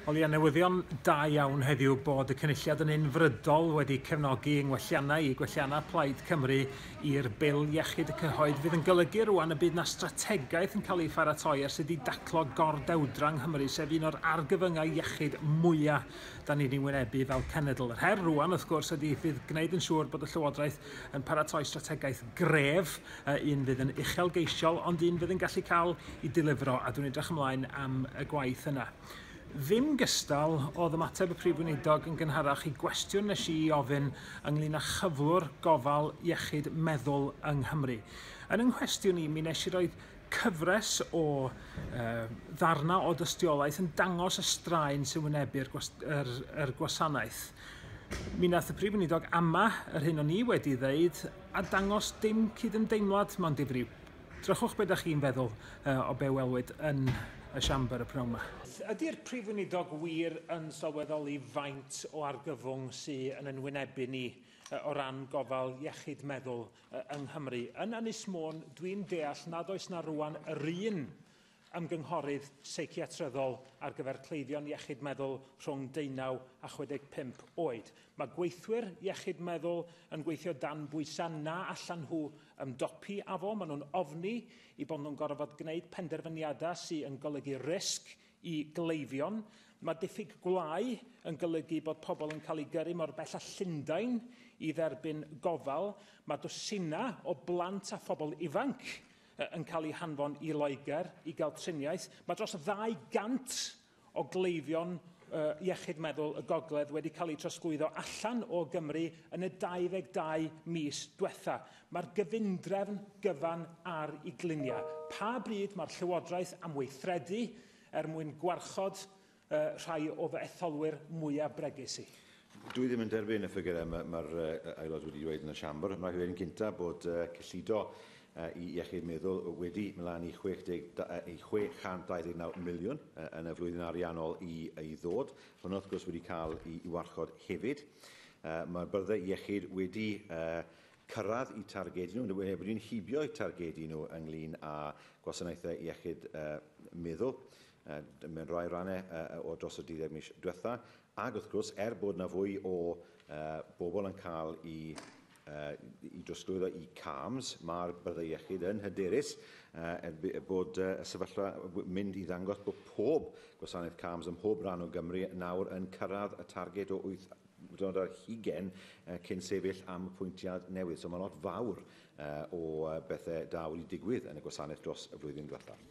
O leia newyddion da iawn heddiw bod y Cynulliad yn unfrydol wedi cefnogi yng ngwelliannau i gwelliannau Plaid Cymru i'r Bil Iechyd y Cyhoedd fydd yn golygu rŵan y bydd 'na strategaeth yn cael ei pharatoi ar sut i daclo gordewdra yng Nghymru sef un o'r argyfyngau iechyd mwya' da ni'n ei wynebu fel cenedl. Yr her rŵan wrth gwrs ydy fydd gwneud yn siŵr bod y Llywodraeth yn paratoi strategaeth gref a un fydd yn uchelgeisiol ond un fydd yn gallu cael ei delifro a dwi'n edrych ymlaen am y gwaith yna. Ddim gystal, oedd ymateb y Prif Weinidog yn gynharach i gwestiwn nes i ofyn ynglyn â chyflwr gofal iechyd meddwl yng Nghymru. Yn yng nghwestiwn i mi nes i roed cyfres o uh, ddarnau o dystiolaeth yn dangos y straen sy'n wynebu'r gwas, er, er gwasanaeth. Mi nath y Prif Weinidog ama yr hyn o'n i wedi ddeud a dangos dim cydymdeimlad, mond difrif. Drychwch be da chi'n feddwl o be welwyd yn y Siambr y pnawn ma. Ydy'r Prif Weinidog wir yn sylweddoli faint o argyfwng sy yn yn wynebu ni o ran gofal iechyd meddwl yng Nghymru? Yn Ynys Môn, dwi'n deall nad oes na rwan yr un ymgynghorydd seiciatryddol ar gyfer cleifion iechyd meddwl rhwng deunaw a 65 oed. Mae gweithwyr iechyd meddwl yn gweithio dan bwysau na allan nhw ymdopi â fo. Maen nhw'n ofni i bod nhw'n gorfod gwneud penderfyniadau sydd yn golygu risg i gleifion. Mae diffyg gwlâu yn golygu bod pobl yn cael eu gyrru mor bell â Llundain i dderbyn gofal. Mae dwsinau o blant a phobl ifanc yn cael eu hanfon i Loegr i gael triniaeth. Mae dros 200 o gleifion uh, iechyd meddwl y gogledd wedi cael eu trosglwyddo allan o Gymru yn y 22 mis diwetha. Mae'r gyfundrefn gyfan ar i gliniau. Pa bryd mae'r Llywodraeth am weithredu er mwyn gwarchod uh, rhai o fy etholwyr mwyaf bregus i. Dwi ddim yn derbyn y ffigurau mae'r ma, ma uh, aelod wedi dweud yn y siambr. Mae'n rhaid yn gyntaf bod uh, cyllido uh, i iechyd meddwl wedi mlaen i, 60, uh, i 629 miliwn uh, yn y flwyddyn ariannol i, i ddod. Hwna wrth gwrs wedi cael i, i warchod hefyd. Uh, Mae'r byrddau iechyd wedi uh, cyrraedd i targedu nhw, wedi'n hibio'u targedu nhw ynglyn â gwasanaethau iechyd uh, meddwl. mewn rhai rannau uh, o dros y 12 mis diwetha, ac wrth gwrs, er bod yna fwy o uh, bobl yn cael i uh, i drosglwyddo i CAMS, mae'r byddai iechyd yn hyderus uh, bod uh, y sefyllfa mynd i ddangos bod pob gwasanaeth CAMS ym mhob rhan o Gymru nawr yn cyrraedd y targed o 8 dod ar hugen uh, cyn sefyll am y pwyntiad newydd. So mae lot fawr uh, o bethau da wedi digwydd yn y gwasanaeth dros y flwyddyn diwethaf.